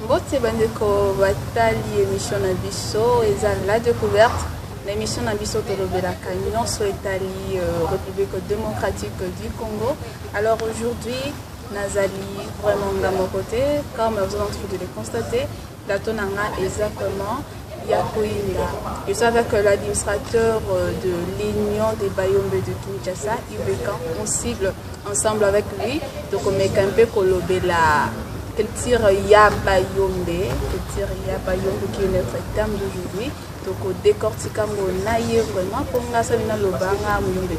mbote bandeko batali emission na biso eza la découverte na émission na biso tolobelaka nyonso etali euh, république démocratique du congo alors aujourd'hui nazali vraiment nga moko te comme vous en train de le constater Plateau na nga eza vraiment ya koyinda. Je suis avec euh, l'administrateur euh, de l'Union des Bayombe de Kinshasa, Ibekan. On cible ensemble avec lui. Donc on met un peu kolobela culture ya Bayombe, culture ya Bayombe qui est notre terme d'aujourd'hui. Donc on décortique mon naïe vraiment pour nga ça vient l'obanga muyombe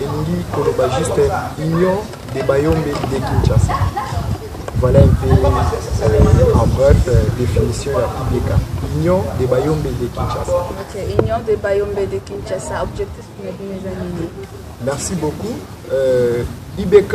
elingi koloba juste union de bayombe de kinshasa voilà un peu euh, en bref euh, définition ya udk union de bayombe de kinshasa okay, union de bayombe de kinshasa objectif na bino eza nini merci beaucoup euh, ibk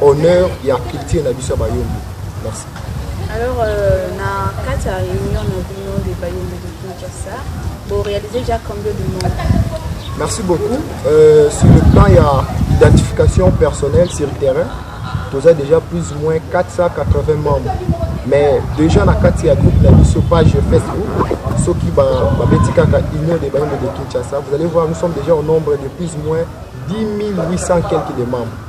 honneur ya culture na biso ya bayombe merci alors euh, na kati ya réunion na bino de bayombe de kinshasa borealise déjà combien de monde merci beaucoup euh, sur le plan ya identification personnelle sur le terrain toza déjà plus ou moins 480 membres mais déjà na kati ya groupe na biso page facebook soki babeti kaka union de bayombe de kinshasa vous allez voir nous sommes déjà au nombre de plus ou moins 10 800 quelques de membres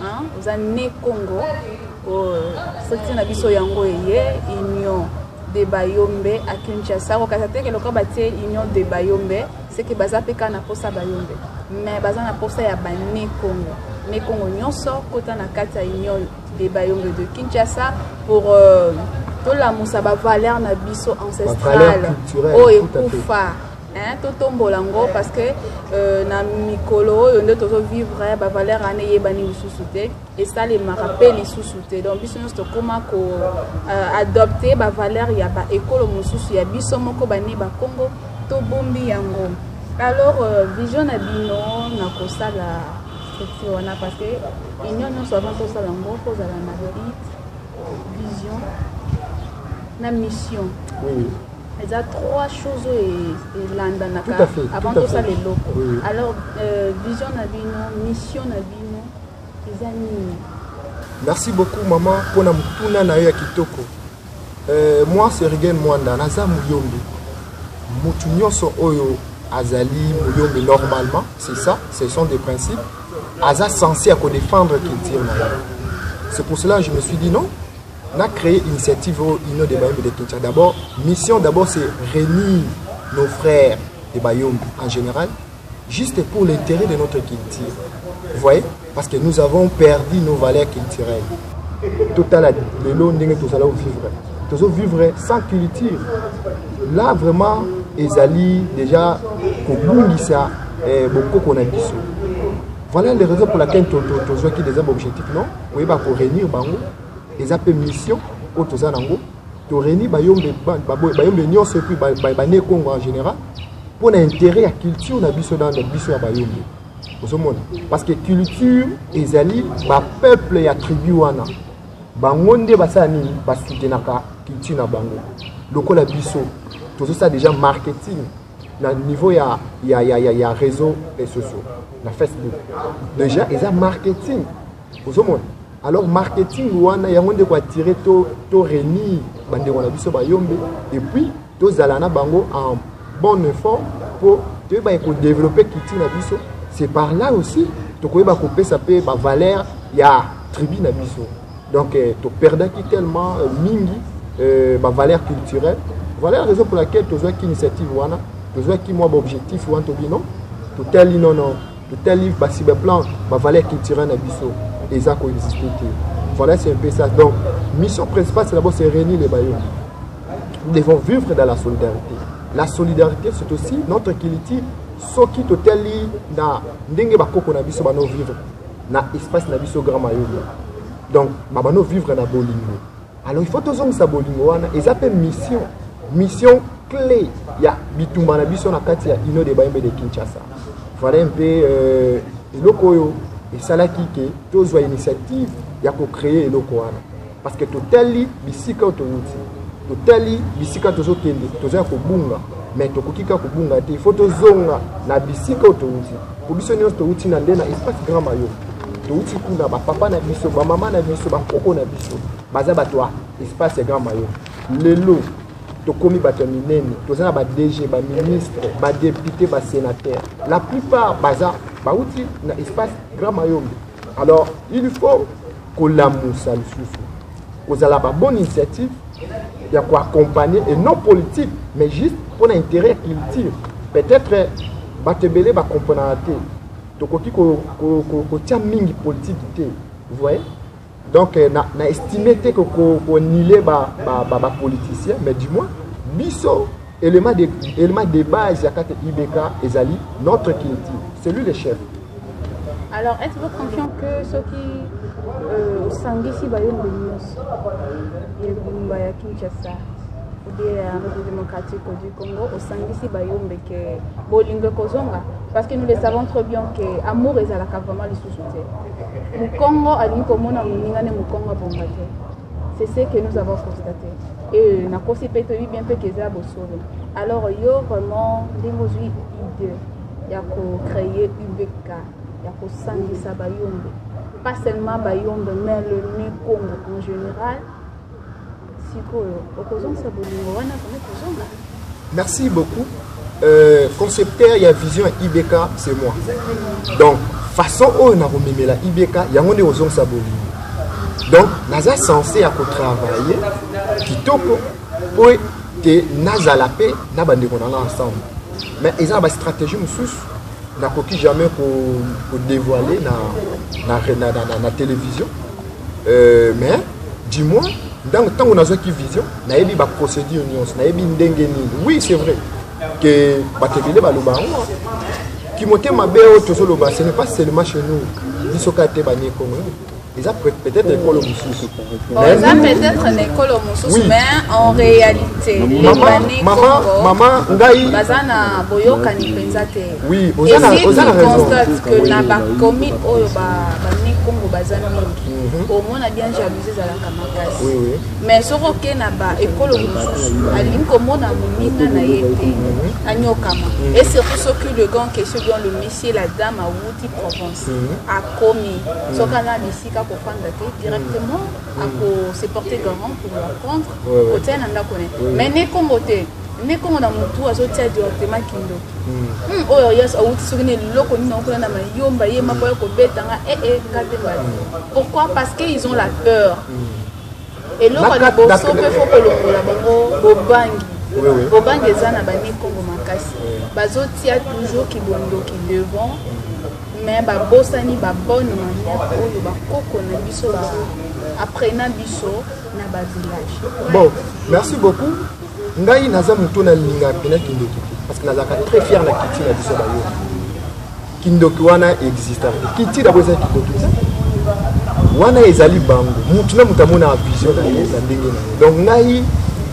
Hein, oza ne Congo oh, société na biso yango eye union de Bayombe à Kinshasa kokasa te ke lokola batie union de Bayombe c'est que baza pe kaka na posa Bayombe mais baza na posa ya ba ne Congo ne Congo nyonso kota na kati ya union de Bayombe de Kinshasa pour euh, tolamusa ba valeur na biso ancestrale oyo ekufa Hein, totombola ngo parce que euh, na mikolo oyo nde tozovivre hein, bavaleur wana eyebani lisusu te esalemaka mpe lisusu te donc biso nyonso tokóma ko euh, adopte bavaleur ya baekolo mosusu ya biso moko bani bakongo tobombi yango alors euh, vision na bino na kosala structure wana parce que union nyonso avant tosala yango kozala na bit vision na mission oui. eza trois choses oyo elandanaka avant tosala eloko alors euh, vision na bino mission na bino eza nini merci beaucoup mama mpona motuna na yo ya kitoko euh, moi sergen mwanda naza moyombi motu nyonso oyo azali moyombi normalement c'est ça ce sont des principes aza censé à kodefendre culture na ye c'est pour cela je me suis dit non na créer initiative oyo union de bayembe de kinshasa d'abord mission d'abord c'est réunir nos frères de bayombe en général juste pour l'intérêt de notre culture vous voyez parce que nous avons perdu nos valeurs culturelles totala lelo ndenge tozala ovivre tozovivre sans culture là vraiment ezali déjà kobungisa eh, bokoko na biso voilà les raisons pour laquelle tozwaki des objectifs non koyeba koréunir bango eza mpe mission oyo toza nango toreni bayombe bayombe nyonso epuis bane congo en général mpo na intérêt ya culture na biso na biso ya bayombe ozomona parce que culture ezali bapeuple ya tribu wana bango nde basala nini basutenaka culture na bango lokola biso tozosala déjà marketing na niveau ya, ya, ya, ya, ya réseau sociaux na facebook déjà eza marketing ozomona alors marketing wana yango nde koattire to, to renir bandeko na biso bayombe epuis tozala na bango en bonne forme mpo toyeba ekodeveloppe culture na biso c'est par là aussi tokoyeba kopesa mpe bavaleur ya tribu na biso donc eh, toperdaki tellement euh, mingi euh, bavaleur culturelle voilà raison pour laquelle tozwaki initiative wana tozwaki mwa baobjectif wana tobi non totali nono Total livre ba cyberplan ba valeur culturelle na biso eza ko exister te. Voilà c'est un peu ça. Donc mission principale c'est d'abord se réunir les bailleurs. Nous devons vivre dans la solidarité. La solidarité c'est aussi notre culture soki totali na ndenge bakoko na biso bano vivre na espace na biso grand mayoyo donc babano vivre na bolingo Alors il faut tozongisa bolingo wana eza pe mission mission clé ya bitumba na biso na kati ya Union des Bayembe de Kinshasa. Voilà un peu euh, eloko oyo esalaki ke tozwa initiative ya ko créer eloko wana parce que totali bisika oyo towuti totali bisika tozokende toza ya kobunga mais tokoki kaka kobunga te il faut tozonga na bisika oyo towuti Po biso nionso towuti na nde na espace Grand Mayo. Towuti kuna ba papa na biso, ba mama na biso, ba koko na biso baza bato ya espace ya Grand Mayo. Lelo tokomi bato ya minene, toza na ba DG, ba ministre, ba depute, ba senateur. La plupart baza bawuti na espace Grand Mayombe. Alors, il faut kolamusa lisusu kozala ba bonne initiative ya koaccompagne et non politique mais juste mpo na intérêt ya culture peut-être bato ebele bacomprenaka te tokoki kotia mingi politiki te vous voyez donc euh, na, na estime te konile bapoliticien ba, ba, ba mais du moins biso Element de, element de base ya kate IBK ezali notre culture. C'est lui le chef. Alors, êtes-vous confiant que ceux qui euh, osangisi bayembo nyonso ebumba ya Kinshasa oubien ya République démocratique du Congo osangisi bayombe ke bolingo ekozonga parce que nous le savons trop bien que amour ezalaka vraiment lisusu te mokongo alingi komona moninga ne mokongo abonga te C'est ce que nous avons constaté. Et na kosi pe toyebi bien pe keza bosolo. Alors yo vraiment ndenge ozwi idée ya ko créer UBK ya ko sangisa bayombe. Pas seulement bayombe mais le nu Congo en général. Sikoyo okozongisa bolingo wana kama kozonga. Merci beaucoup. Euh, concepteur ya vision IBK c'est moi. Donc façon oyo na komemela IBK yango nde kozongisa bolingo. Donc naza censé ya kotravailler kitoko mpo ete nazala mpe na bandeko na nga ensemble. Mais eza na bastratégie mosusu nakoki jamais kodévoile na, na, na, na, na, na télévision euh, mais du moins ntango nazwaki vision nayebi ba procédure nyonso nayebi ndenge nini oui c'est vrai que bato ebele baloba yango kimote mabe oyo tozoloba ce n'est pas seulement chez nous biso kaka te banie congo eza peut-être ekolo mosusu eza peut-être na ekolo mosusu mais en réalité mama ngai baza na boyokani mpenza te oui oza na raison que na bakomi oyo bani congo baza mingi omona bien jalousie ezalaka makasi mais soki oke na ba ekolo mosusu alingi komona moninga na ye te mhm. anyokama mhm. et surtout soki le grand question bien le monsieur la dame awuti provence mhm. akomi soki ana na esika kofanda te directement ako se porter garant pour la prendre kotia na ndako ne mais ne kongo te nde kongo na motu azotia directement kindo hmm. hmm, oyo yesu awuti soki na eloko nini okuna na mayomba ye mako ya kobetanga ee eh, eh, ngatembali pourquoi parce que ils ont la peur hmm. Eloko ya liboso pe faut kolongola bango bobangi. Bobangi eza na bani Kongo makasi. Bazotia toujours kibondoki devant mais babosani ba bonne manière oyo bakoko na biso ba apprena biso na ba village. Bon, merci beaucoup. Ngai naza moto na linga pena kindoki parce que nazalaka très fier na culture na biso bayo. Kindoki wana exista kiti dabo eza kindoki te wana ezali bango mutu na mutu amonaka vision na ye na ndenge na ye donc ngai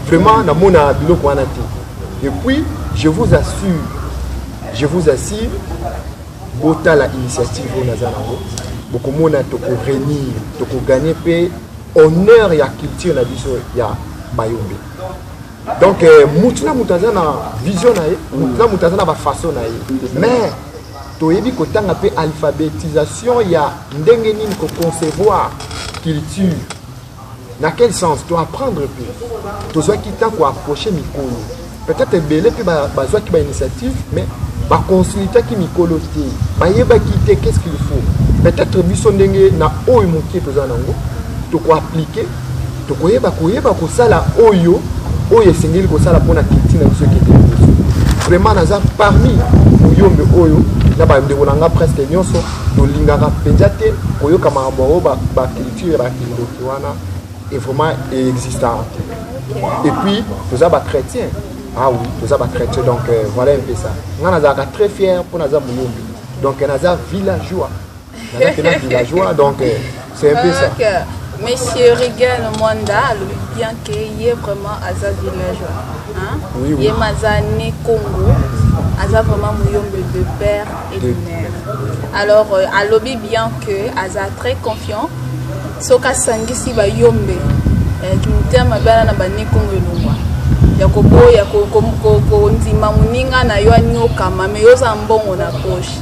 vraiment namonaka biloko wana te et puis je vous assure je vous assure botala initiative oyo naza nango bokomona tokorenir tokoganye mpe honneur ya culture na biso ya bayombe donc euh, motu na moto aza na vision na ye motu na moto aza na bafaçon na ye mais toyebi kotanga mpe alphabetisation ya ndenge nini koconcevoir culture na quel sens toapprendre mpe tozwaki ntan koapproche mikolo peut-être ebele mpe bazwaki bainitiative mais baconsultaki mikolo te bayebaki te qu'est ce qu'il faut peut-être biso ndenge na oyo moke toza nango tokoaplike tokoyeba koyeba kosala oyo oyo esengeli kosala mpona kilti na biso ekende liboso vraiment naza parmi muyombe oyo na bandeko na nga presque nyonso tolingaka mpenza te koyoka makambo yango baculture ya bakindoki wana e vraiment eexistaka te et puis toza bachrétien ah oui toza bachrétien donc euh, voilà un peu ça nga nazalaka très fier mpo naza muyombe donc naza villageois nazalaki na villageois donc euh, c'est un peu ça okay. monsieur regan mwanda alobi bien que ye vraiment aza villageois hein? oui, oui. ye maza ne congo aza vraiment muyombe de père et de mère alors euh, alobi bien que aza très confiant soki asangisi bayombe eh, motema bana na banekongo elongwa ya koboya kondima moninga na yo anyokama me yo oza mbongo na poche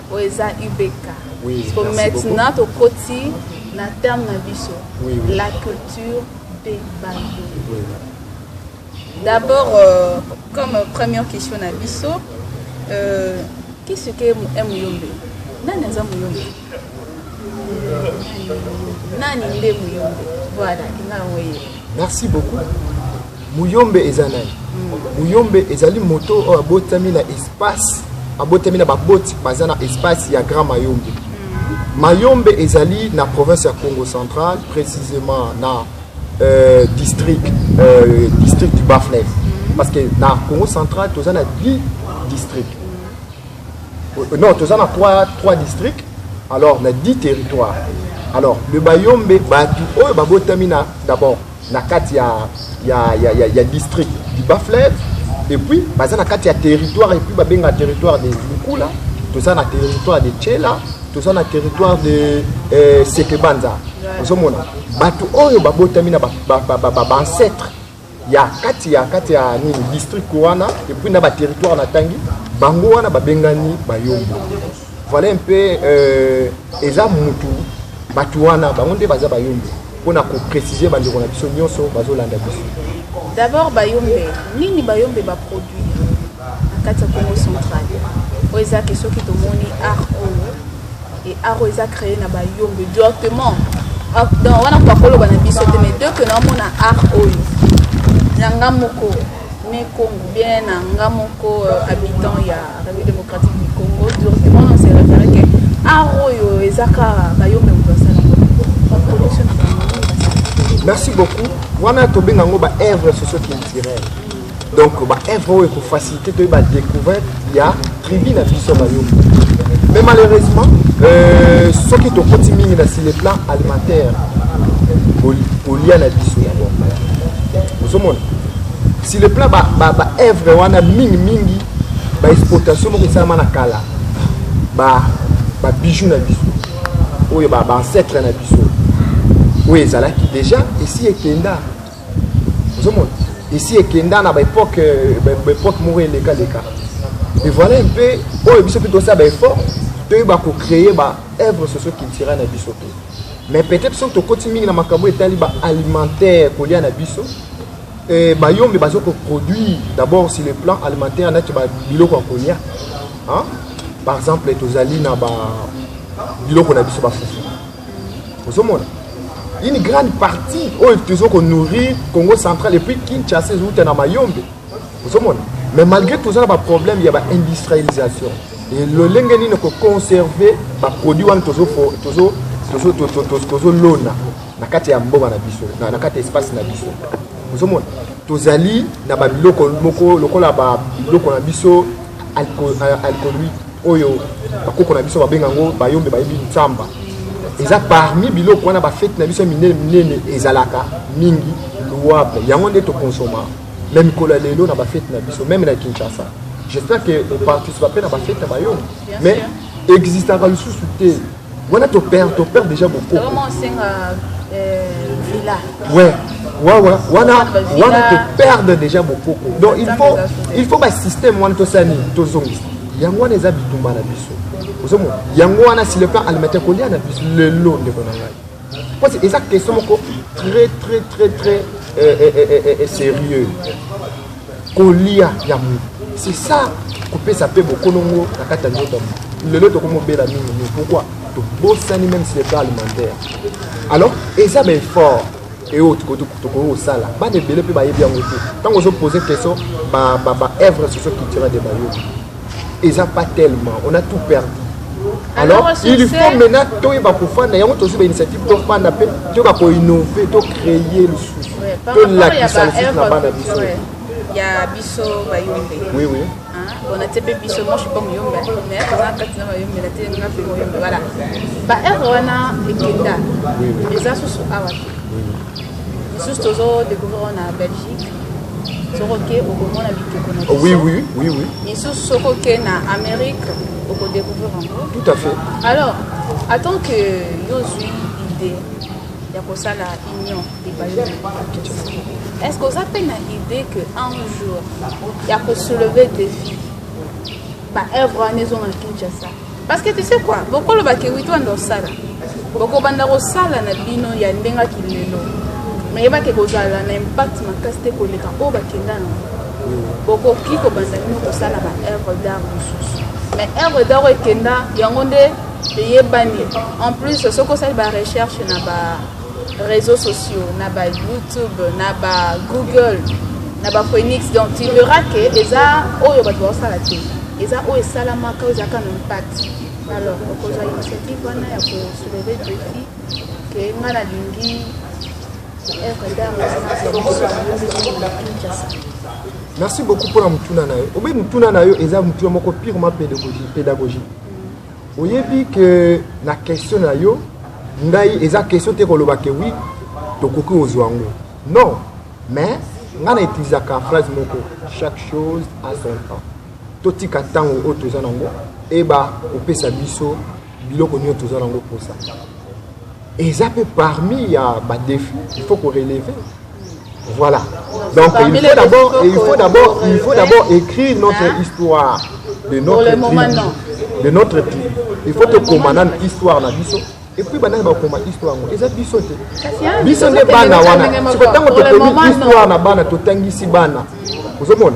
oyo eza ubk oui, so maintenant tokoti na terme na biso oui, oui. la culture de bango oui. d'abord euh, comme première question na biso euh, qui ce que est muyombe nani aza muyombe nani nde muyombe voilà inga oye merci beaucoup Muyombe eza nani? Muyombe ezali moto oyo abotami na espace, abotami na baboti baza na espace ya Grand Mayombe. Mayombe ezali na province ya Congo central, précisément na euh, district, euh, district du Bas-Fleuve. Parce que na Congo central, toza na 10 districts. Euh, non, toza na 3, 3 districts, alors na 10 territoires. Alors, le Bayombe, batu oyo babotami na d'abord na kati ya, ya, ya, ya, ya district du bas fleuve et puis baza na kati ya territoire et puis babenga territoire de lukula toza na territoire de chela toza na territoire de eh, sekebanza ozomona bato oyo babotami na baancetre ba, ba, ba, ba, ya kati ya kati ya nini district wana epuis na baterritoire natangi bango wana babengani bayombo Voilà un peu euh, eza mutu batu wana bango nde baza bayombe mpo na koprécise bandeko na biso nyonso bazolanda biso d'abord bayombe nini bayombe baproduit na kati ya congo central oyo eza ke soki tomoni art oyo e art oyo eza créé na bayombe directement ah, donc wana pakoloba na biso te mais deux ke naomona art oyo na nga moko Me Kongo bien na nga moko euh, habitant ya République démocratique du Congo directement na se référer que art oyo eza ka bayombe moto asala production na bango merci beaucoup wana tobenga yango ba œuvre socio culturelle donc ba œuvre oyo ekofacilité toyeba découverte ya Tribu na biso bayoki mais malheureusement euh, soki tokoti mingi na sur le plan alimentaire kolia na biso yango ozomona sur le plan baœuvre ba, ba wana mingi mingi baexploitation moko esalama na kala babijou ba na biso oyo baancetre ba na biso oyo ezalaki déjà esi ekenda ozomona esi ekenda na baepoke baepoke moko elekaleka mais voilà un peu oyo biso mpe tosala baeffort toyeba kocreye baœuvre socio culturel na biso mpe mais peut-être soki tokoti mingi na makambo etali baalimentaire kolia na biso eh, bayombe bazo koproduire d'abord sur le plan alimentaire nati biloko ya kolia par exemple tozali na biloko na biso bafufu ozomona une grande partie oyo tozo ko nourrir congo central et puis kinshasa ezouta na mayombe ozomona mais malgré toza na baproblème ya baindustrialisation lolenge nini koconserve baproduit wana tozolona na kati ya mbonga na biso na kati ya espace na biso ozomona tozali na babiloko moko lokola babiloko na biso alcoolique oyo bakoko na biso babenga yango bayombe bayebi nsamba eza parmi biloko wana bafeti na biso ya minene minene ezalaka mingi louable yango nde tokonsoma me mikolo ya lelo na bafeti na biso meme na kinshasa j'espère que oparticipa mpe na bafeti na bayombe mais existaka lisusu te Wana to perd to perd déjà beaucoup. Vraiment senga euh, villa. Ouais. Wawa, wana wana to perdre déjà beaucoup. Donc il faut il faut ba système wana to sani to zongisa. Yango wana eza bitumba na biso. Ozomo yango wana si le plan alimentaire kolia na biso lelo ndeko na ngai. mpo eza question moko très très très très eh, eh, eh, eh, eh, sérieux kolia ya moto c'est ça kopesa mpe bokonongo na kati ya nzoto ya moto lelo tokomobela mingi mingi pourquoi tobosani même si leta alimentaire alors eza baeffort eoyo tokoki kosala bana ebele mpe bayebi yango te ntango ozopose question baœuvre socio culturel de bayobi eza pas tellement on a tout perdu alors il faut maintenant toyeba kofanda yango tozwi bainitiative tofanda mpe toyeba koinnove tocreye lisusu tolakisa lisusu na bana biso ya biso bayombe oui, oui. on atie mpe biso moi je suis pas moyombe mais toza kati na mayombe na te nga mpe moyombe voilà baheure wana ekenda eza susu awa te Juste tozo découvrir on a Belgique. Soko ke okomona bikeko na biso. Oui oui oui oui. Isusu soko ke na Amérique oko découvrir encore. Tout à fait. Alors, attends que yo zui idée ya kosala union epayi est-ce que oza mpe na idée que un jour ya kosoulever défi baœuvre wana ezonga kinshasa Parce que tu sais quoi, bokolo ba kiwito anda osala. Boko banda kosala na bino ya ndenga kilelo. Mais yeba ke kozala na impact makasi te koleka oyo bakenda na boko ki ko banda bino kosala ba œuvre d'art mosusu. Mais œuvre d'art ekenda yango nde eyebani. En plus soki osali ba recherche na ba reseaux sociaux na ba youtube na ba google na ba phoenix donc tu verras que eza oyo bato baosala te eza oyo esalamaka oyo ezalaka na impact alors okozwa initiative wana ya kosouleve defi ke nga nalingi merci beaucoup mpona motuna na yo obe motuna na yo eza motuna moko purement pédagogie Oyebi que na question na yo ngai eza question te koloba que oui tokoki kozwa yango non mais ngai na utilisaka phrase moko chaque chose à son temps totika ntango oyo toza nango eba kopesa biso biloko nyonso toza nango mposa eza mpe parmi ya ba défi il faut ko relever voilà donc il faut d'abord il faut d'abord il faut d'abord écrire notre hein? histoire de notre tribu de notre tribu il faut tokoma nanu histoire na biso epuis banani bakoma histoire yango eza biso te biso nde bana wana siko ntango tokomi histoire na bana totangisi bana ozomona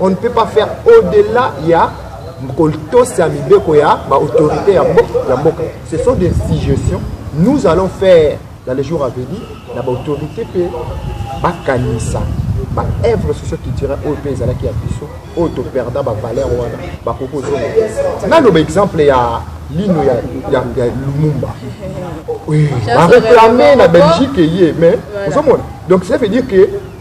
On ne peut pas faire au-delà ya kotosa mibeko ya ba autorités ya mboka. Ce sont des suggestions nous allons faire dans les jours à venir na ba autorités pe bakanisa ba œuvre socio culturelle oyo mpe ezalaki ya biso oyo toperda ba valeur wana bakoki kozonga nano ba exemple ya lino ya, ya, ya lumumba oui, bareklame na belgique eye mais ozomona donc ça veut dire que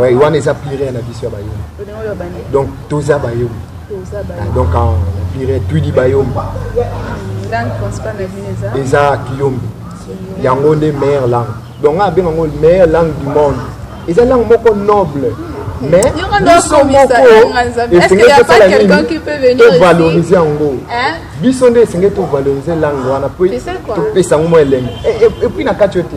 Oui, wana eza plire na biso ya bayombi donc toza bayombi ah, donc ah, plire twidi bayombi eza kiyombi yango nde meilleure langue donc nga abenga yango meilleure langue du monde eza langue moko noble hmm. mais biso moko esengeli tosala nini tovalorize yango biso nde esengeli tovalorize langue wana mpo topesa yango mwa elembo epuis na kati yo te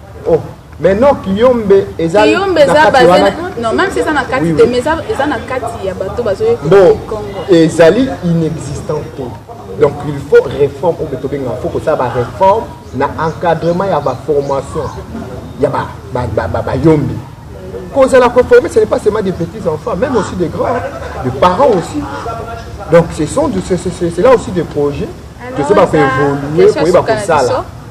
oh mais non kiyombe eza kiyombe eza baze non même si eza na kati te mais eza na kati ya bato bazoye bon ezali inexistant te donc il faut réforme oyo tobenga faut kosala baréforme na encadrement ya baformation ya bayombi kozala koforme ce n'est pas seulement des petits enfants même aussi des grands des parents aussi donc ce sont c'est là aussi des projets tozoba koévoluer koyeba kosala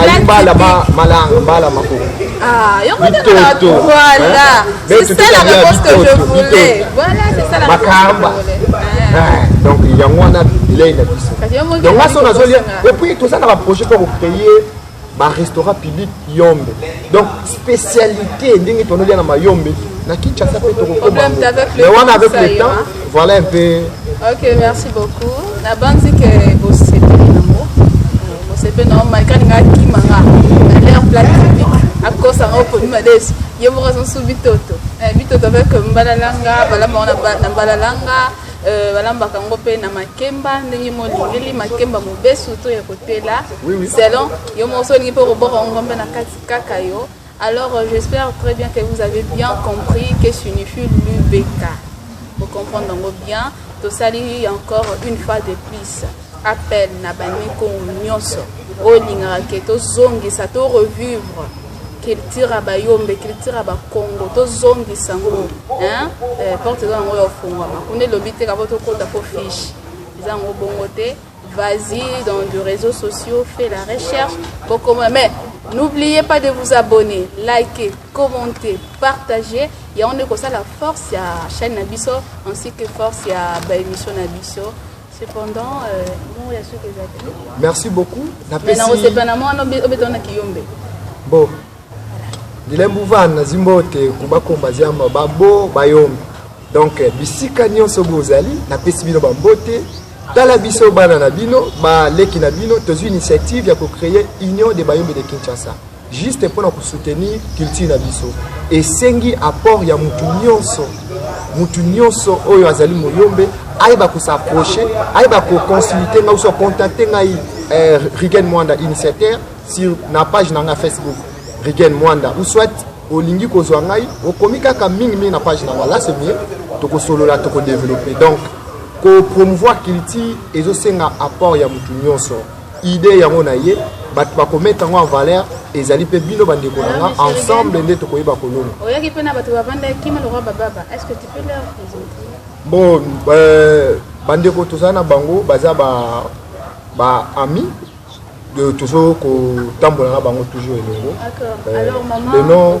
ayibala malanga mbala makoko ah, bitoto makamba donc yango wana bilei na biso donc aso nazolia epuis toza na baprojet mpo kokreye barestaurant public yombe donc spécialité ndenge tonolia na mayombe na kinshasa mpe tokokoma mais wana avec le temps voilà un peu ok merci beaucoup nabanzi ke bosepeli nango bosepeli nango malika lingaka kimanga na l'air place publique akosa ngo poni madesu ye moko azosu bitoto eh, bitoto avec mbalalanga balama ngo na mbalalanga Euh, balambaka yango mpe na makemba ndenge molingeli makemba mobesu to ya kotela selon yo moko so olingi mpe okoboko yango mpe na kati kaka yo alors euh, j'espère très bien que vous avez bien compris que signifie l'ubk okomprendre yango bien tosali encore une fois de plus appel na bamikongo nyonso oyo olingaka ke tozongisa to revivre culture ya bayombe culture ya bakongo tozongisa yango eh, porte eza yango ya ofungwama kuna elobi te kavo tokota po fiche eza yango bongo te vas-y dans de réseaux sociaux fait la recherche bokoma mais n'oubliez pas de vous abonner liker commenter partager yango nde kosala force ya chaîne na biso ainsi que force ya baémission na biso Cependant, euh, mon ya soki ezaki. Merci beaucoup. Na pesi. Na osepa na mwana obeta na kiyombe. Bon. Dilembu van na zimbote kuba komba ziamba babo bayombe. Donc euh, bisika nyonso bozali na pesi bino bambote tala biso bana na bino baleki na bino tozwi initiative ya kocreye union de bayombe de kinshasa juste pona ko soutenir culture na biso esengi apport ya mutu nyonso mutu nyonso oyo azali moyombe ayeba ko s'approcher ayeba ko consulter ngai so contacter ngai eh, Rigen Mwanda initiateur sur na page na ngai Facebook Rigen Mwanda ou soit olingi kozwa ngai okomi kaka mingi mingi na page na ngai là c'est mieux tokosolola tokodeveloppe donc kopromouvoir culture ezosenga apport ya motu nyonso Idee yango na ye bato bakometa yango en valeur ezali mpe bino bandeko na nga ensemble nde tokoyeba kolona oyaki mpe na bato bavanda kima lokwa bababa est ce que tu peux leur présenter bon euh, bandeko toza na bango baza ba, ba ami de tozo kotambola na bango toujours elongo euh, le nom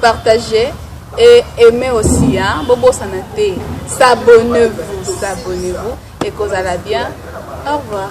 Partager et aimer aussi hein bobosana te s'abonnez vous s'abonnez vous et kozala bien au revoir